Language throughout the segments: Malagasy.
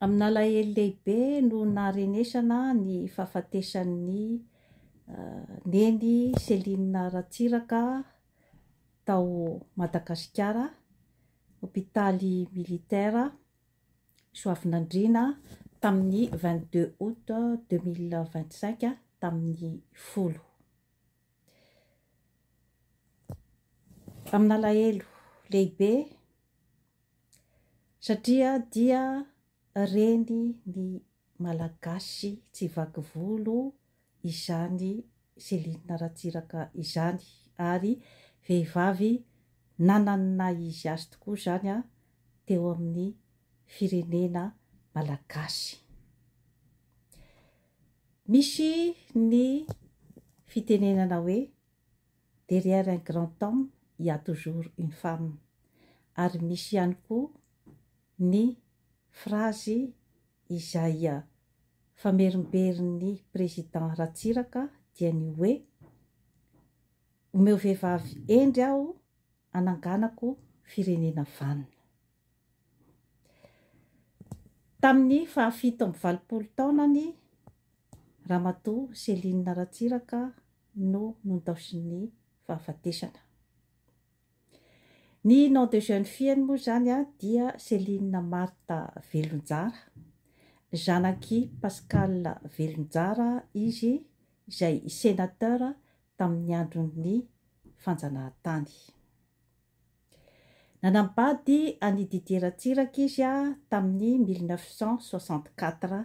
Amin'ny alahelo lehibe no naharenesana ny fahafatesan'ny Neny Céline Ratsiraka tao Madagasikara, hopitaly militaire Soavinandriana tamin'ny vingt deux aout deux mille vingt cinq, tamin'ny folo. Amin'alahelo lehibe satria dia reny ny Malagasy tsy vaky volo izany Céline Ratsiraka izany ary vehivavy nanana ny naha izy azy tokoa izany teo amin'ny firenena Malagasy. Misy ny fitenenana hoe derrière un grand homme il y a toujours une femme ary misy ihany koa ny frazy izay famerimberin'ny Président Ratsiraka dia ny hoe omeo vehivavy hendry aho hananganako firenena vanona. Tamin'ny fahafito amby valopolo taonany, Ramatoa Céline Ratsiraka no nondaosin'ny fahafatesana. Ny nom de jeune fille-ny moa izany dia Céline Marthe Velonjara, zanak'i Pascal Velonjara izy izay sénateur tamin'ny andron'ny fanjanahantany. Nanambady an'i Didier Ratsiraka izy tamin'ny mille neuf cent soixante-quatre.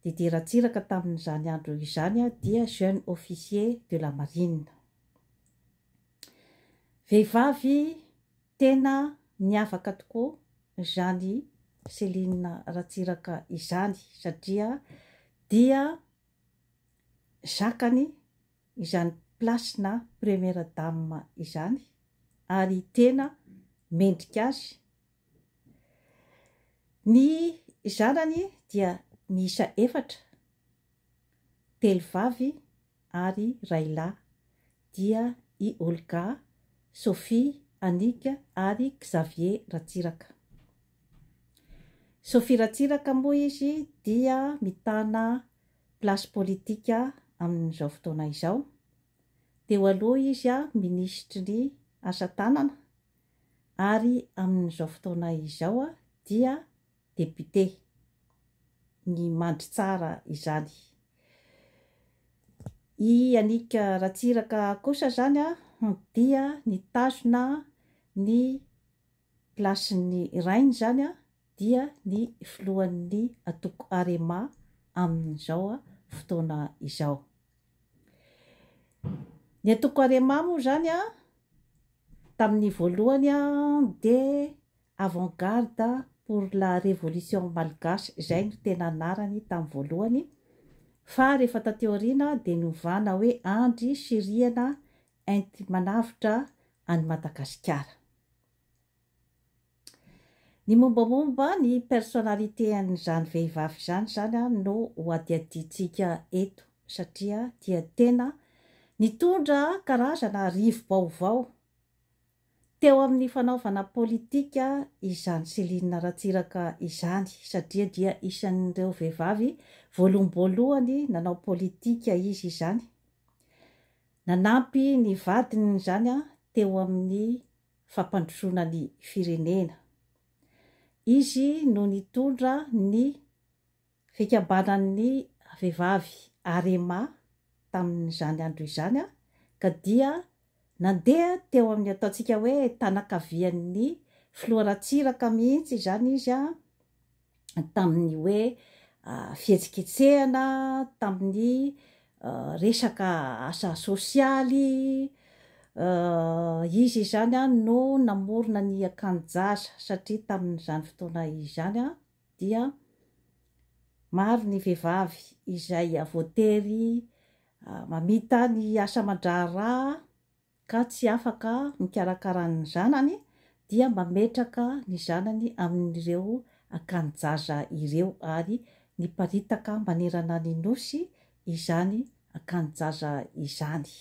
Didier Ratsiraka tamin'izany andro izany dia jeune officier de la marine. Vehivavy tena niavaka tokoa izany Céline Ratsiraka izany satria dia zakany izany place na première dame izany ary tena mendrika azy ny zanany dia miisa efatra telo vavy ary ray lahy dia i Olga, Sophie, Annick ary Xavier Ratsiraka. Sophie Ratsiraka moa izy dia mitana place politique amin'izao fotoana izao. Teo aloha izy minisitry ny asa tanana ary amin'izao fotoana izao dia député. Ny mandry tsara izany. I Yannick Ratsiraka kosa izany dia nitazona ny. place ny rainy izany dia ny filohan'ny antoko arema amin'izao fotoana izao. Ny antoko arema moa izany tamin'ny voalohany dia avant garde pour la révolution malgache izay no tena anarany tamin'ny voalohany fa rehefa taty aoriana dia novana hoe andry sy rihana enti-manavotra an'i madagasikara. Ny mombamomba ny personnalité an'izany vehivavy izany izany no hohadihadiantsika eto satria dia tena nitondra karazana rivo-baovao teo amin'ny fanaovana politika izany Céline Ratsiraka izany satria dia isan'ireo vehivavy voaloham-boalohany nanao politika izy izany. Nanampy ny vadiny izany teo amin'ny fampandrosoana ny firenena. Izy no nitondra ny fikambanan'ny vehivavy Arema tamin'izany andro izany ka dia nandeha teo amin'ny ataontsika hoe tanakavian'ny filoha Ratsiraka mihitsy izany izy. tamin'ny hoe fihetsiketsehana, tamin'ny resaka asa sosialy, izy izany no namorona ny akanjo-jaza satria tamin'izany fotoana izany dia maro ny vehivavy izay voatery mamita ny asa aman-draharaha ka tsy afaka mikarakara ny zanany dia mametraka ny zanany amin'ireo akanjaza ireo ary miparitaka manerana ny Nosy izany akanjaza izany.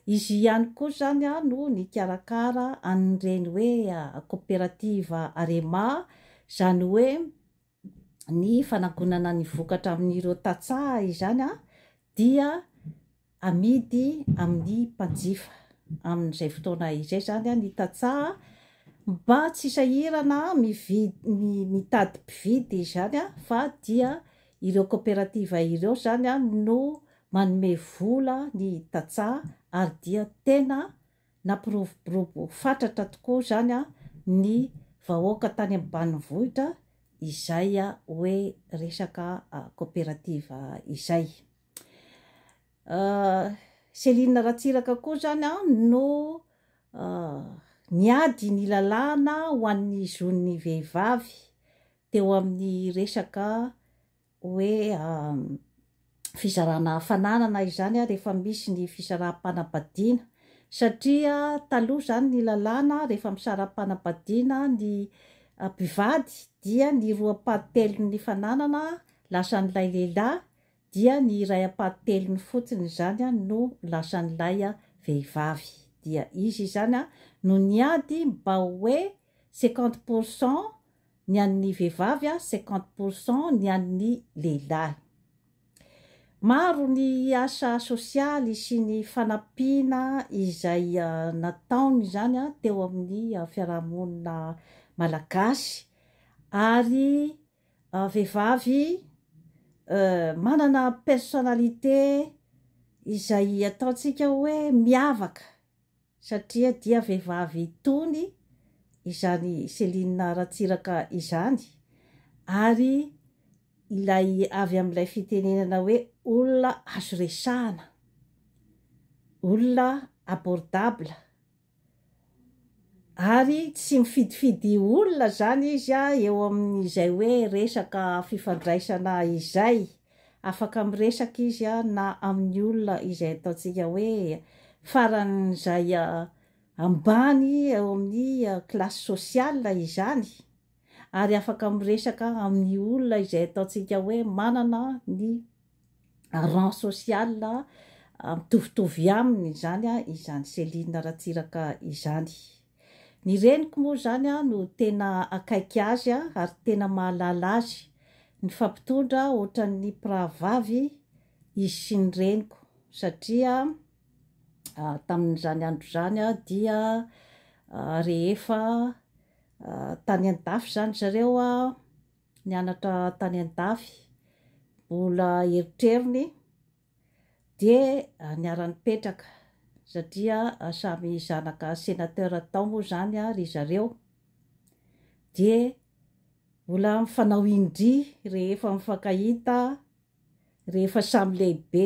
Izy ihany koa izany no nikarakara an'ireny hoe koperativa Arema, izany hoe ny fanagonana ny vokatra amin'ireo tantsaha izany dia amidy amin'ny mpanjifa amin'izay fotoana izay izany ny tantsaha mba tsy sahirana mividy ny mitady mpividy izany fa dia ireo kaoperativa ireo izany no manome vola ny tantsaha ary dia tena Nampiroborobo fatratra tokoa izany ny vahoaka tany ambanivohitra izay hoe resaka coopérative izay. Céline Ratsiraka koa izany no niady ny lalàna ho an'ny zon'ny vehivavy teo amin'ny resaka hoe fizarana fananana izany rehefa misy ny fisaraham-panambadiana satria taloha izany ny lalàna rehefa misaraham-panambadiana ny mpivady dia ny roa ampahatelon'ny fananana lasan'ilay lehilahy dia ny iray ampahatelony fotsiny izany no lasan'ilay vehivavy dia izy izany no niady mba hoe cinquante pour cent ny an'ny vehivavy a cinquante pour cent ny an'ny lehilahy. Maro ny asa sosialy sy ny fanampiana izay nataony izany a teo amin'ny fiarahamonina malagasy ary vehivavy manana personnalité izay ataontsika hoe miavaka. satria dia vehivavy itony izany Céline Ratsiraka izany ary ilay avy amin'ilay fitenenana hoe olona azo resahana, olona abordable ary tsy mifidifidy olona izany izy eo amin'izay hoe resaka fifandraisana izay. Afaka miresaka izy na amin'ny olona izay ataontsika hoe faran'izay ambany eo amin'ny classe sociale izany, ary afaka miresaka amin'ny olona izay ataontsika hoe manana ny rang social mitovitovy aminy izany izany Céline Ratsiraka izany. Ny reniko moa izany no tena akaiky azy ary tena mahalala azy. Nifampitondra ohatran'ny mpirahavavy izy sy ny reniko satria tamin'izany andro izany dia rehefa tany an-dafy izany zareo nianatra tany an-dafy, mbola erotrerony. Dia niara-nipetraka, satria samy zanaka sénateur tao moa izany ry zareo, dia mbola mifanao indry rehefa mifankahita rehefa samy lehibe.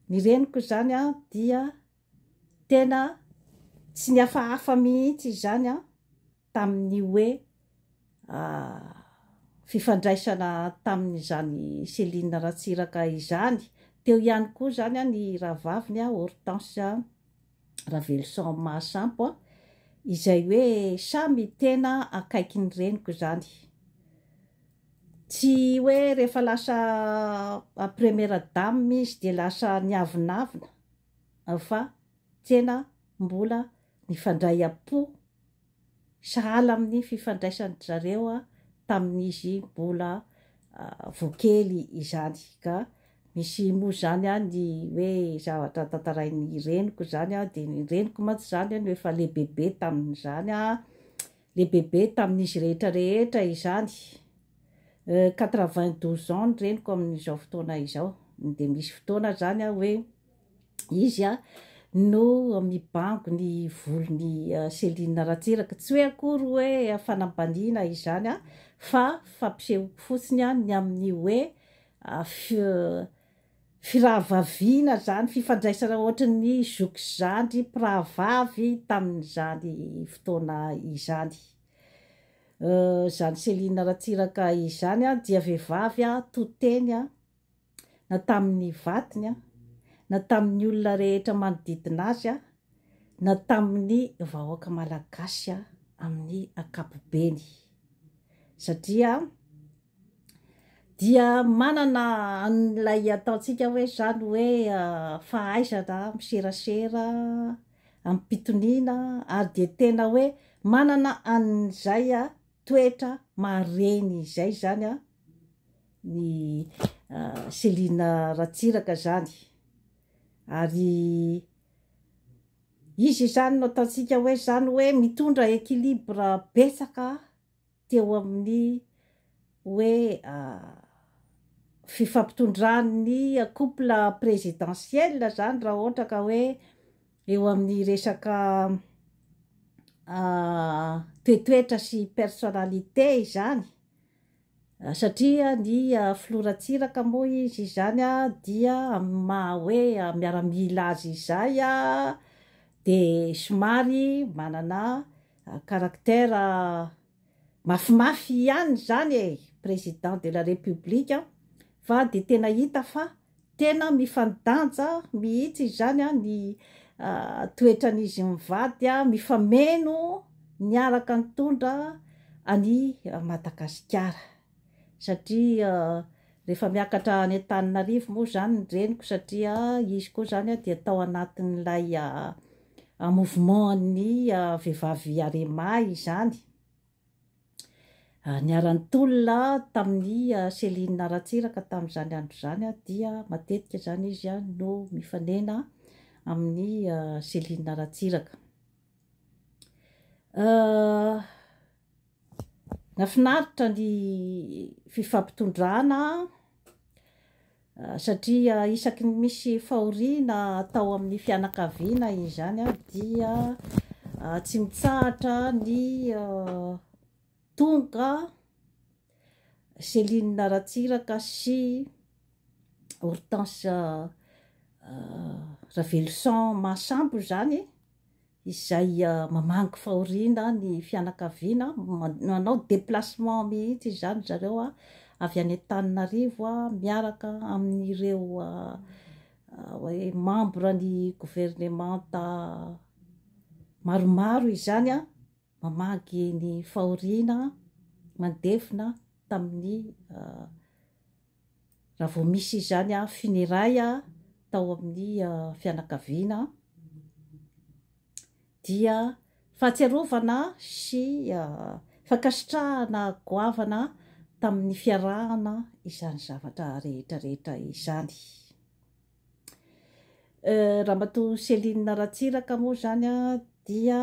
Ny reniko izany dia tena tsy nihafahafa mihitsy izany tamin'ny hoe fifandraisana tamin'izany Céline Ratsiraka izany. Teo ihany koa izany ny rahavaviny Hortense Raveloson Mahasampo izay hoe samy tena akaiky ny reniko izany. Tsy hoe rehefa lasa première dame izy dia lasa niavonavona fa tena mbola Nifandray am-po sahala amin'ny fifandraisan-dry zareo tamin'izy mbola vao kely izany. Ka misy moa izany ny hoe zavatra tantarain'ny reniko izany dia ny reniko mantsy izany no efa lehibebe tamin'izany, lehibebe tamin'izy rehetra rehetra izany. Quatre-vingt-douze ans ny reniko amin'izao fotoana izao. Dia misy fotoana izany hoe izy no mibango ny volon'i Céline Ratsiraka. Tsy hoe akory hoe fanambaniana izany fa fampisehoako fotsiny ny amin'ny hoe firahavaviana izany, fifandraisana ohatran'ny zoky zandry mpirahavavy tamin'izany fotoana izany. Izany Céline Ratsiraka izany dia vehivavy to teny. na tamin'ny vadiny, na tamin'ny olona rehetra manodidina azy, na tamin'ny vahoaka malagasy amin'ny ankapobeny. Satria dia manana an'ilay ataontsika hoe izany hoe fahaizana miserasera amim-pitoniana ary dia tena hoe manana an'izay toetra maha reny izay izany ny Selina Ratsiraka izany ary izy izany no ataontsika hoe izany hoe mitondra équilibre betsaka teo amin'ny hoe fifampitondran'ny couple présidentiel izany raha ohatra ka hoe eo amin'ny resaka toetoetra sy personnalité izany. Satria ny Filoha Ratsiraka moa izy izany dia amin'ny maha hoe miaramila azy izay dia somary manana caractère mafimafy ihany izany e! Président de la République fa dia tena hita fa. Tena mifandanja mihitsy izany ny toetran'izy mivady mifameno miaraka nitondra an'i Madagasikara satria rehefa miakatra any Antananarivo moa izany ny reniko satria izy koa izany dia tao anatin'ilay mouvement an'ny vehivavy Arema izany. niara-nitolona tamin'i Céline Ratsiraka tamin'izany andro izany dia matetika izany izy no mifanena amin'ny Céline Ratsiraka. Nafinaritra ny fifampitondrana Satria isaky ny misy fahoriana atao amin'ny fianakaviana izany dia tsy mitsahatra ny tonga Céline Ratsiraka sy Hortense Raveloson Mahasambo izany. izay mamangy fahoriana ny fianakaviana, manao déplacement mihitsy izany ry zareo avy any Antananarivo miaraka amin'ireo hoe membre ny governemanta maromaro izany mamangy ny fahoriana mandevona tamin'ny Raha vao misy izany an finiray an tao amin'ny fianakaviana an dia fahatsiarovana sy fankasitrahana goavana tamin'ny fiarahana izany zavatra rehetra rehetra izany. Ramatoa Céline Ratsiraka moa izany dia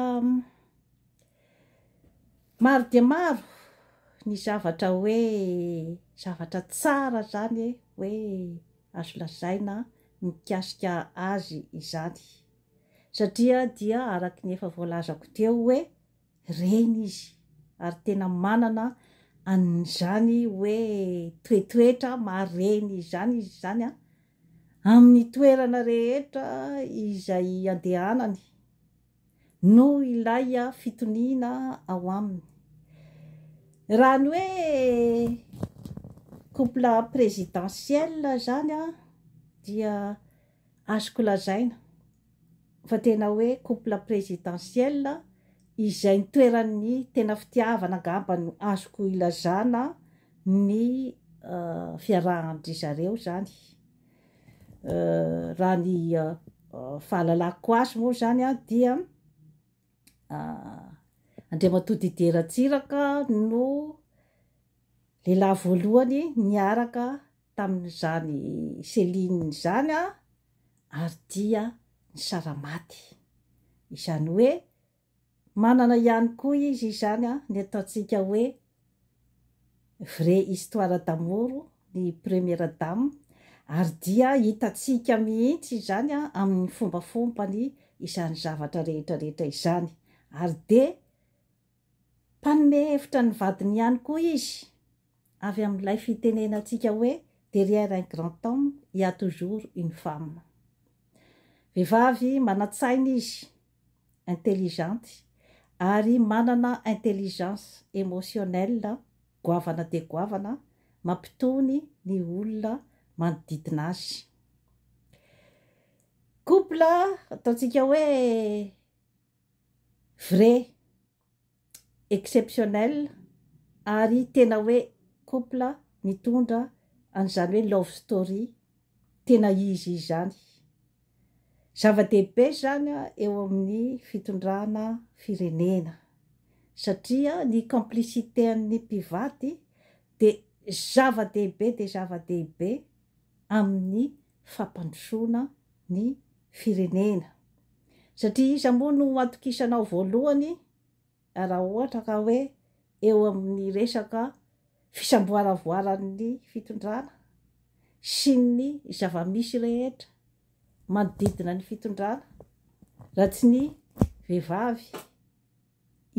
maro dia maro ny zavatra hoe zavatra tsara izany e, hoe azo lazaina mikasika azy izany satria dia araka ny efa voalazako teo hoe. Reny izy ary tena manana an'izany hoe toetoetra maha reny izany izy izany an! Amin'ny toerana rehetra izay andehanany no ilay fitoniana ao aminy. Raha ny hoe couple présidentiel izany an dia azoko lazaina. fa tena hoe couple présidentiel izay ny toeran'ny tena fitiavana angamba no azoko ilazana ny fiarahan-dry zareo izany raha ny fahalalako azy moa izany dia Andriamatoa Didier Ratsiraka no lehilahy voalohany niaraka tamin'izany Céline izany aho ary dia nisara-maty. Izany hoe manana ihany koa izy izany ny ataontsika hoe vraie histoire d'amour ny première dame ary dia hitantsika mihitsy izany amin'ny fombafombany izany zavatra rehetra rehetra izany ary dia Mpanome hevitra ny vadiny ihany koa izy, avy amin'ilay fitenenantsika hoe derrière un grand homme, il y a toujours une femme. Vehivavy manan-tsaina izy, intelligente, ary manana intelligence émotionnelle goavana dia goavana mampitony ny olona manodidina azy. Couple ataontsika hoe Vrai, exceptionnel ary tena hoe couple nitondra an'izany hoe love story tena izy izany. Zava-dehibe izany eo amin'ny fitondrana firenena satria ny complicité an'ny mpivady dia zava-dehibe dia zava-dehibe amin'ny fampandrosoana ny firenena. Satria iza moa no hatokisanao voalohany raha ohatra ka hoe eo amin'ny resaka fisamboaravoaran'ny fitondrana sy ny zava-misy rehetra manodidina ny fitondrana raha tsy ny vehivavy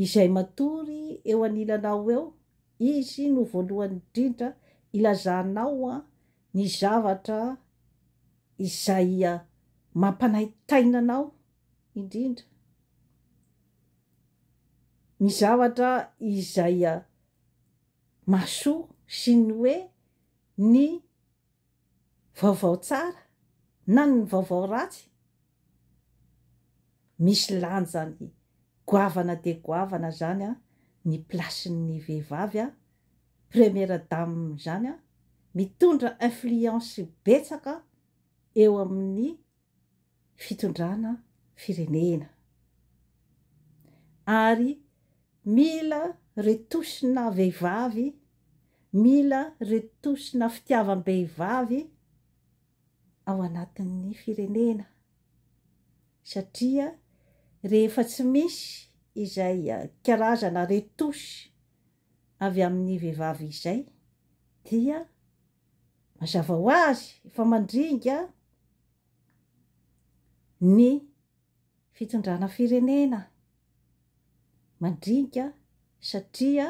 izay matory eo anilanao eo, izy no voalohany indrindra ilazanao ny zavatra izay mampanaintaina anao indrindra, ny zavatra izay mahasoa sy ny hoe ny vaovao tsara na ny vaovao ratsy, misy lanjany goavana dia goavana izany ny place-n'ny vehivavy. première dame izany an, mitondra influence betsaka eo amin'ny fitondrana firenena ary mila retouche-na vehivavy, mila retouche-na fitiavam-behivavy ao anatin'ny firenena satria rehefa tsy misy izay karazana retouche avy amin'ny vehivavy izay dia mazava ho azy efa mandringa ny fitondrana firenena, mandringa satria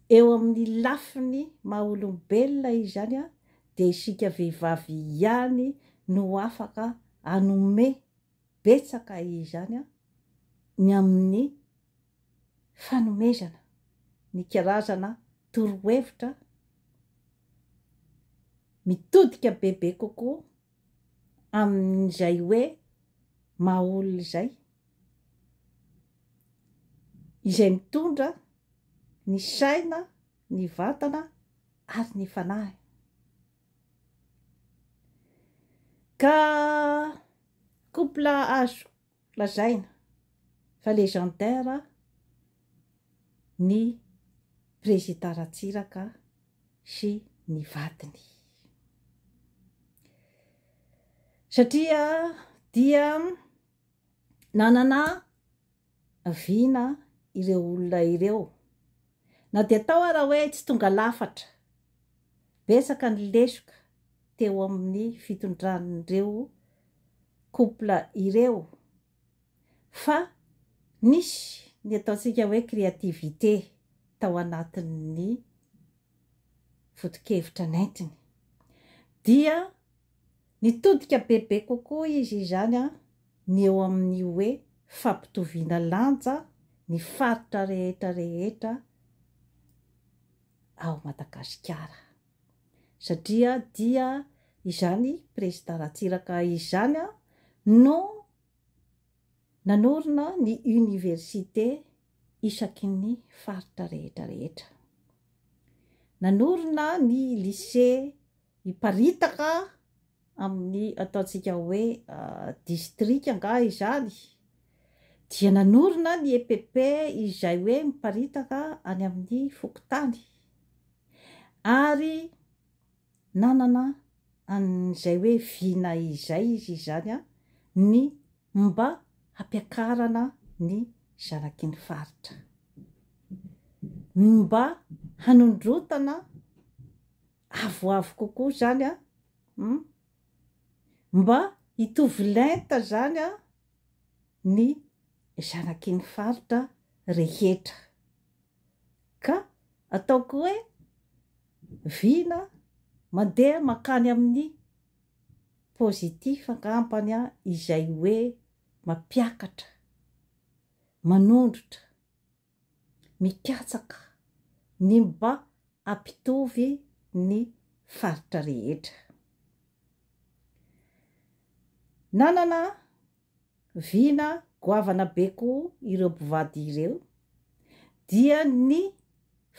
eo amin'ny lafiny maha olombelona izany dia isika vehivavy ihany no afaka hanome betsaka izany ny amin'ny fanomezana ny karazana torohevitra mitodika bebe kokoa amin'izay hoe maha olona izay, izay mitondra ny saina, ny vatana ary ny fanahy. Ka couple azo Lazaina fa legendaire ny Prezida Ratsiraka sy ny vadiny. Satria dia nanana vina ireo olona ireo. Na dia tao ara hoe tsy tonga lafatra, betsaka ny lesoka. teo amin'ny fitondran'ireo couple ireo fa nisy ny ataontsika hoe créativité tao anatin'ny foto-kevitra nentiny. Dia nitodika bebe kokoa izy izany ny eo amin'ny hoe fampitoviana lanja ny faritra rehetra rehetra ao Madagasikara. satria dia izany prezida Ratsiraka izany no nanorina ny université isaky ny faritra rehetra rehetra, nanorina ny lycée hiparitaka amin'ny ataontsika hoe district angaha izany, dia nanorina ny EPP izay hoe miparitaka any amin'ny fokontany. ary nanana an'izay hoe vina izay izy izany an, ny mba hampiakarana ny zanaky ny faritra, ny mba hanondrotana avoavo kokoa izany an, hum, mba hitovy lenta izany an, ny zanaky ny faritra rehetra. Ka ataoko hoe vina mandeha mankany amin'ny positif angambany izay hoe mampiakatra, manondrotra, mikatsaka ny mba hampitovy ny faritra rehetra. Nanana Vina goavana be koa ireo mpivady ireo dia ny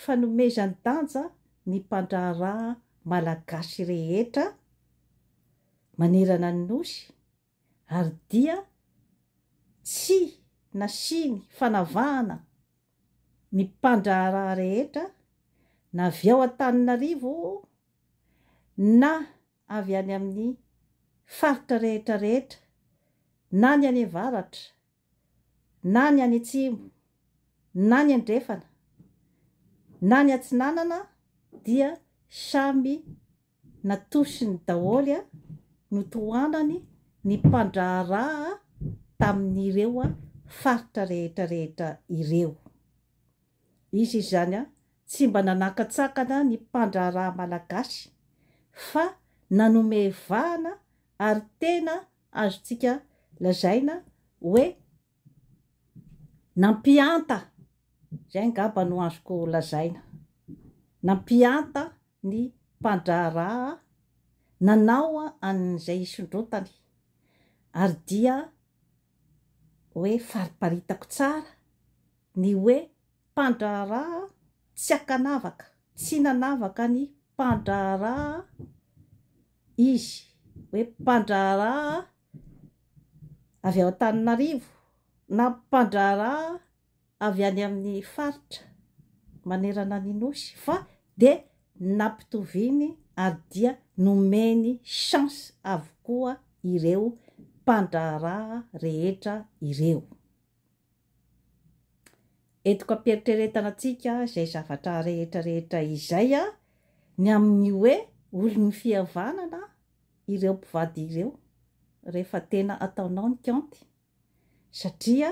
fanomezan-danja ny mpandraharaha malagasy rehetra manerana ny Nosy ary dia tsy nasiany fanavahana ny mpandraharaha rehetra na avy ao Antananarivo na avy any amin'ny faritra rehetra rehetra, na ny any avaratra, na ny any atsimo, na ny andrefana, na ny atsinanana, dia samy natosiny daholo, notohanany ny mpandraharaha tamin'ireo faritra rehetra rehetra ireo. Izy izany an, tsy mba nanakatsakana ny mpandraharaha malagasy fa nanome vahana ary tena azontsika lazaina hoe nampihanta, izay angamba no azoko lazaina, nampihanta ny mpandraharaha nanao an'izay hisondrotany ary dia hoe fariparitako tsara ny hoe mpandraharaha tsy ankanavaka, tsy nanavaka ny mpandraharaha izy, hoe mpandraharaha avy ao Antananarivo na mpandraharaha avy any amin'ny faritra manerana ny Nosy fa dia nampitoviany ary dia nomeny chance avokoa ireo mpandraharaha rehetra ireo. Entiko am-pieritreretana antsika izay zavatra rehetra rehetra izay ny amin'ny hoe olon'ny fihavanana ireo mpivady ireo rehefa tena ataonao ny kaonty satria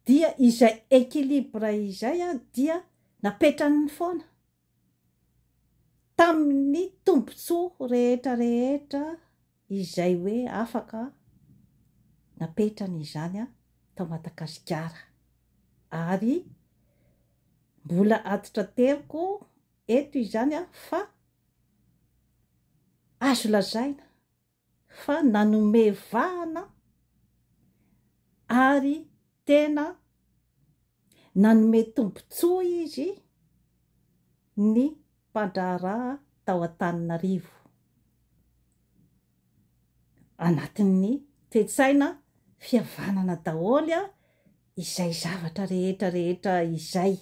dia izay equilibre izay dia napetrany foana. tamin'ny tombontsoa rehetra rehetra izay hoe afaka napetrany izany tao Madagasikara ary mbola aditrateriko eto izany fa azo lazaina fa nanome vahana ary tena nanome tombontsoa izy ny mpandraharaha tao Antananarivo anatin'ny toe-tsaina fihavanana daholo izay zavatra rehetra rehetra izay.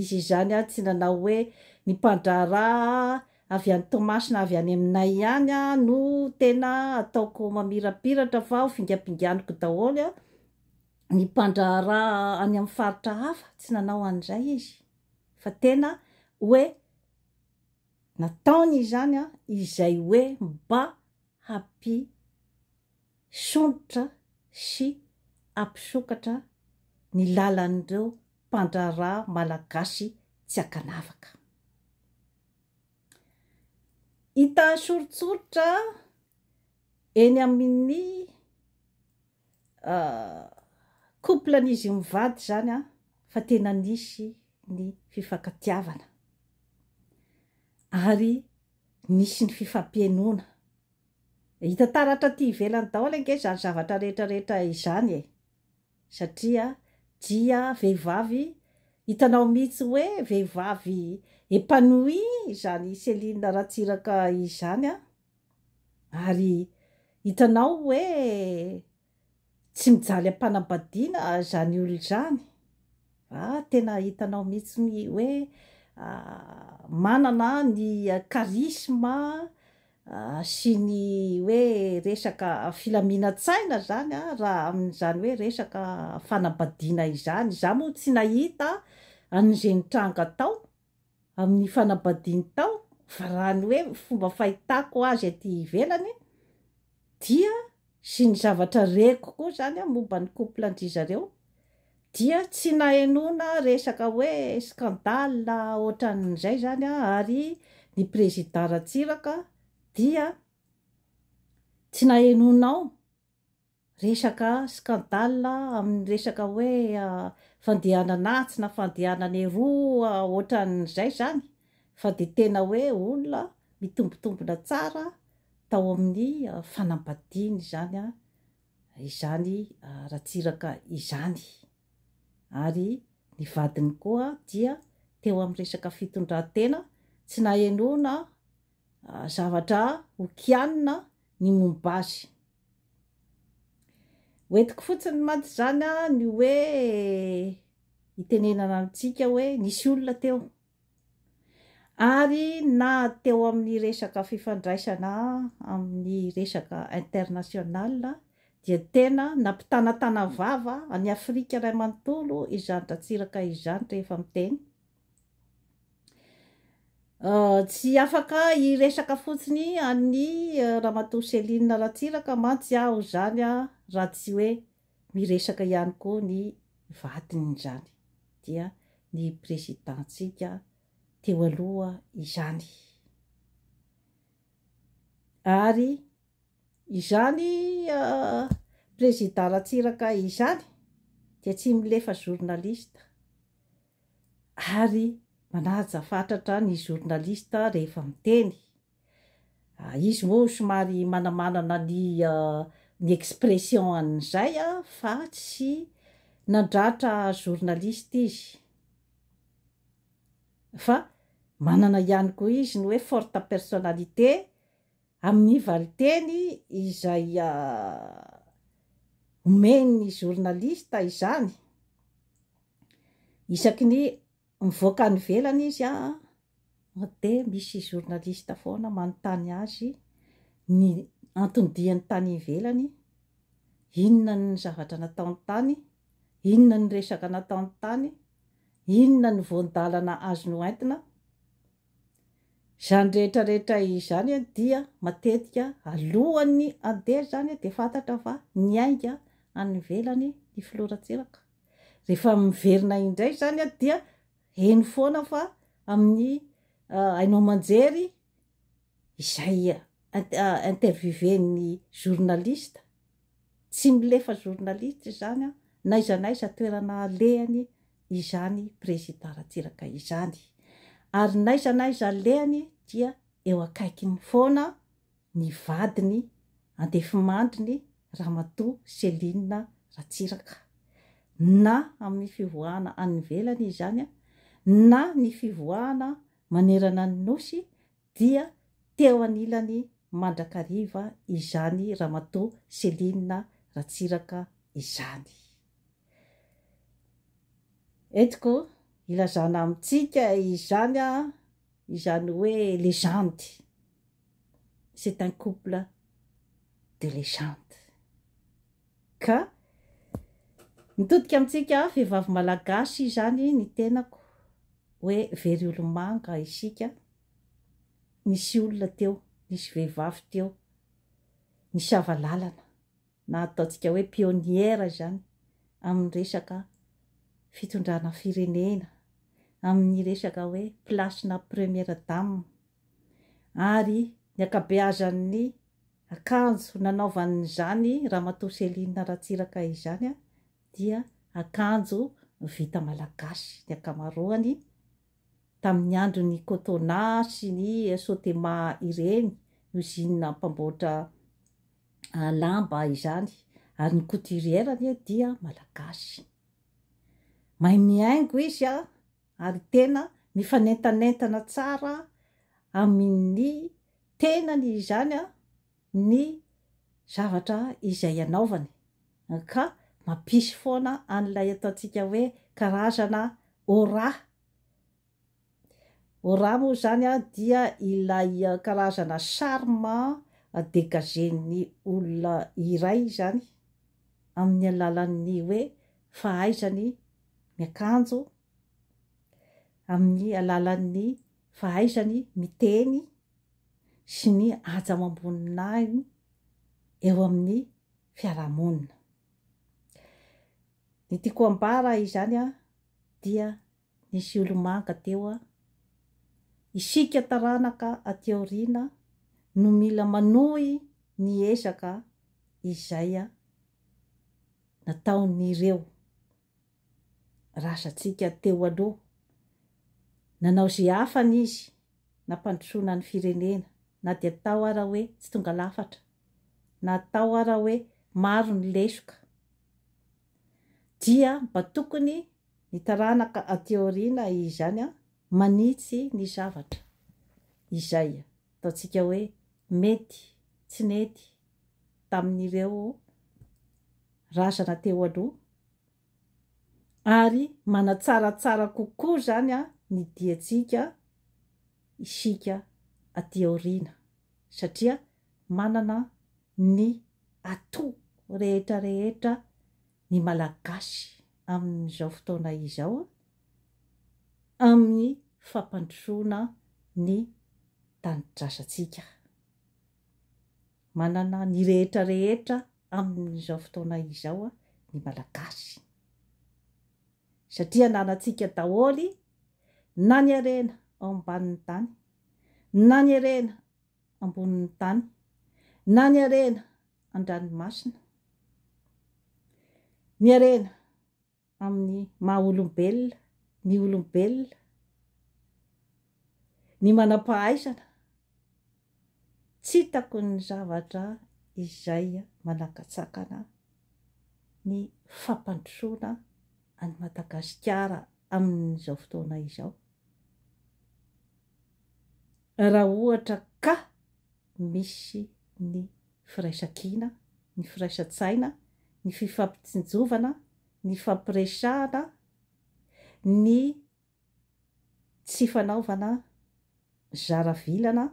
Izy izany ary tsy nanao hoe, Ny mpandraharaha avy any Toamasina avy any aminay ihany no tena ataoko mamirapiratra fa ho fingampinganiko daholo ny mpandraharaha any amin'ny faritra hafa, tsy nanao an'izay izy fa tena hoe nataony izany izay hoe mba hampitombo hisondrotra sy hampisokatra ny lalan'ireo mpandraharaha malagasy tsy ankanavaka. Hita soritsoritra eny amin'ny couple-n'izy mivady izany fa tena nisy ny fifankatiavana ary nisy ny fifampihenoana Hita taratra aty ivelany daholo ange izany zavatra rehetra rehetra izany e! Satria dia vehivavy, hitanao mihitsy hoe vehivavy épanouie izany Céline Ratsiraka izany an! Ary hitanao hoe Tsy mijaly ampanambadiana zany olona zany a, tena hitanao mihitsy ny hoe manana ny charisme sy ny hoe resaka filaminantsaina zany a raha amin'izany hoe resaka fanambadiana izany, za moa tsy nahita an'izay nitranga tao amin'ny fanambadiany tao, fa raha ny hoe fomba fahitako azy aty ivelany dia sy ny zavatra reko koa izany momba ny couple-ndry zareo dia tsy nahenoana resaka hoe scandale ohatran'izay izany ary ny président Ratsiraka dia tsy nahenoanao Resaka scandale amin'ny resaka hoe fandehanana atsy na fandehanana eroa ohatran'izay izany fa dia tena hoe olona mitombontombona tsara tao amin'ny fanambadiany izany izany Ratsiraka izany ary ny vadiny koa dia teo amin'ny resaka fitondran-tena tsy nahenoana zavatra ho kianina ny momba azy. Hoentiko fotsiny mantsy izany an, ny hoe hitenenana amintsika hoe nisy olona teo. Ary na teo amin'ny resaka fifandraisana amin'ny resaka international dia tena nampitanatana vava an'i Afrika iray manontolo izany Ratsiraka izany rehefa miteny. Tsy afaka hiresaka fotsiny an'i Ramatoa Céline Ratsiraka mantsy aho izany raha tsy hoe miresaka ihany koa ny vadin'izany, dia ny Président-tsika teo aloha izany. Ary izany Président Ratsiraka izany dia tsy milefa journaliste ary manaja fatratra ny journaliste rehefa miteny, izy moa somary manamanana ny ny expression an'izay fa tsy nandratra journaliste izy fa manana ihany koa izy ny hoe forte personnalité amin'ny valinteny izay omen'ny journaliste izany, isaky ny mivoaka any ivelany izy dia misy journaliste foana manontany azy ny antony diany tany ivelany, inona ny zavatra nataony tany, inona ny resaka nataony tany, inona ny voan-dalana azony hoentina, Izany rehetra rehetra izany dia matetika alohan'ny handeha izany dia fantatra fa niainga any ivelany ny filoha Ratsiraka. Rehefa miverina indray izany dia heno foana fa amin'ny haino aman-jery izay interviewé-n'ny journaliste, tsy milefa journaliste izany na aiza na aiza toerana alehany izany Prezida Ratsiraka izany ary n'aiza n'aiza alehany dia eo akaikiny foana ny vadiny andefimandriny Ramatoa Céline Ratsiraka na amin'ny fivoahana any ivelany izany na ny fivoahana manerana ny Nosy dia teo anilany mandrakariva izany Ramatoa Céline Ratsiraka izany. Entiko ilazana amintsika izany izany hoe legende. C'est un couple de legende. Ka mitodika amintsika vehivavy malagasy izany ny tenako hoe very olomanga isika, nisy olona teo, nisy vehivavy teo nisava lalana. na ataontsika hoe pionnière izany amin'ny resaka fitondrana firenena, amin'ny resaka hoe place-na première dame. Ary ny ankabeazan'ny akanjo nanaovan'izany Ramatoa Céline Ratsiraka izany dia akanjo vita malagasy ny ankamaroany, tamin'ny andron'ny Cotona sy ny Sotema ireny, usine mpamboatra lamba izany ary ny couturière anie dia malagasy mahay mihaingo izy a ary tena mifanentanentana tsara amin'ny tenany izany a ny zavatra izay anaovany ka mampisy foana an'ilay ataontsika hoe karazana aura Raha moa izany dia ilay karazana charme degagen'ny olona iray izany amin'ny alalan'ny hoe fahaizany miakanjo, amin'ny alalan'ny fahaizany miteny sy ny hajamam-boninahiny eo amin'ny fiarahamonina. Ny tiako ambara izany dia. Nisy olo-manga teo an! Isika taranaka aty aoriana no mila manohy ny ezaka izay nataon'ireo razantsika teo aloha. Nanao izay hafany izy nampandrosoana ny firenena na dia atao ara hoe tsy tonga lafatra, na atao ara hoe maro ny lesoka, dia mba tokony Ny taranaka aty aoriana izany manitsy ny zavatra izay ataontsika hoe mety tsy nety tamin'ireo razana teo aloha ary manatsaratsara kokoa izany ny diantsika isika aty aoriana satria manana ny atout rehetra rehetra ny Malagasy. amin'izao fotoana izao amin'ny fampandrosoana ny tanidrasantsika. Manana ny rehetra rehetra amin'izao fotoana izao ny Malagasy satria ananantsika daholo na ny harena ao ambanin'ny tany na ny harena ambonin'ny tany na ny harena an-dranomasina. Ny harena amin'ny maha olombelona ny olombelona, ny manam-pahaizana, tsy hitako ny zavatra izay manakatsakana ny fampandrosoana an'i Madagasikara amin'izao fotoana izao. Raha ohatra ka misy ny firaisankina, ny firaisan-tsaina, ny fifampitsinjovana, ny fampiresahana, ny tsy fanaovana zara vilana,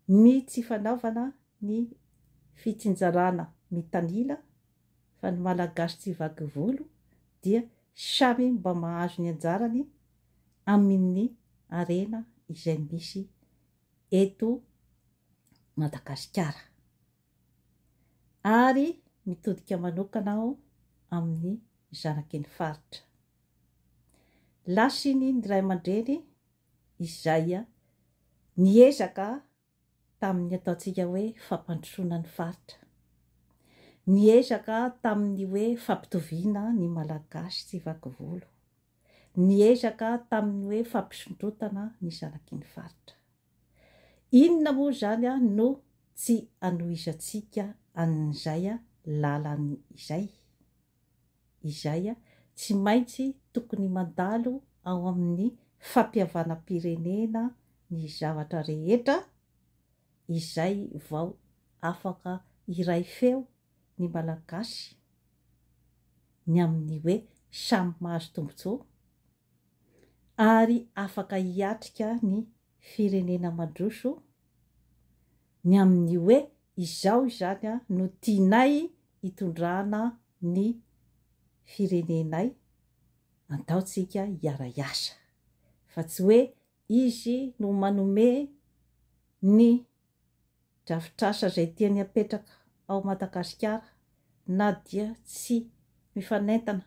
ny tsy fanaovana ny fitsinjarana mitanila fa ny Malagasy tsy vaky volo dia samy mba mahazo ny anjarany amin'ny harena izay misy eto Madagasikara ary mitodika manokana aho amin'ny zanaky ny faritra. Lasiny ny ray aman-dreny izay niezaka tamin'ny ataontsika hoe fampandrosoana ny faritra. Niezaka tamin'ny hoe fampitoviana ny Malagasy tsy vaky volo. Niezaka tamin'ny hoe fampisondrotana ny zanaky ny faritra. Inona moa izany no tsy anohizantsika an'izay lalany izay? izay tsy maintsy tokony mandalo ao amin'ny fampihavanam-pirenena ny zavatra rehetra izay vao afaka hiray feo ny Malagasy ny amin'ny hoe samy mahazo tombontsoa ary afaka hiatrika ny firenena mandroso ny amin'ny hoe izao izany no tianay hitondrana ny firenenay, andao tsika hiara-hiasa fa tsy hoe izy no manome ny drafitr'asa izay tiany hapetraka ao Madagasikara na dia tsy mifanentana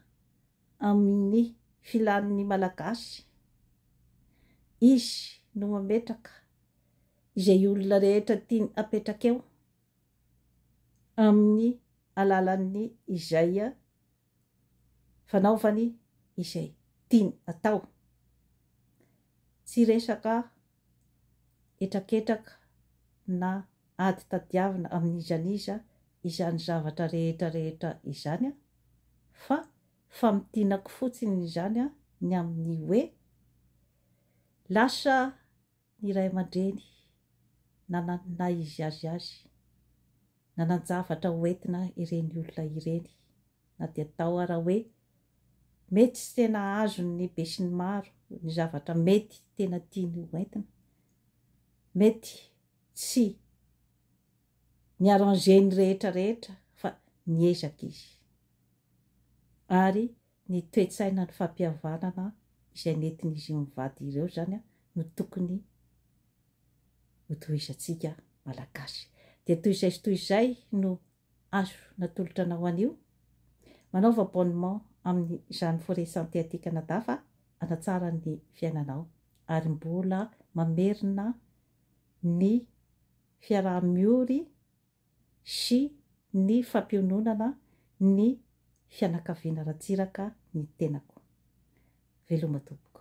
amin'ny filan'ny Malagasy, izy no mametraka izay olona rehetra tiany hapetraka eo. amin'ny alalan'ny izay fanaovany izay tiany atao. Tsy resaka hetraketraka na ady tadiavina amin'iza n'iza izany zavatra rehetra rehetra izany fa famintinako fotsiny izany ny amin'ny hoe lasa Ny ray aman-dreny nanana ny naha izy azy azy, nanan-javatra ho entina ireny olona ireny, na dia atao ara hoe mety tsy tena azon' ny besinimaro ny zavatra mety tena tiany ho entina, mety tsy ni-arranger ny rehetra rehetra fa niezaka izy, ary Ny toe-tsaina ny fampihavanana izay nentin'izy io mivady ireo izany no tokony ho tohizantsika Malagasy. Dia toy izay sy toy izay no azo natolotra anao anio. Manaova abonnement amin'izany Forêt Santé aty Canada fa hanatsara ny fiainanao ary mbola mamerina ny fiaraha-miory sy ny fampiononana ny fianakaviana Ratsiraka ny tenako. Veloma tompoko.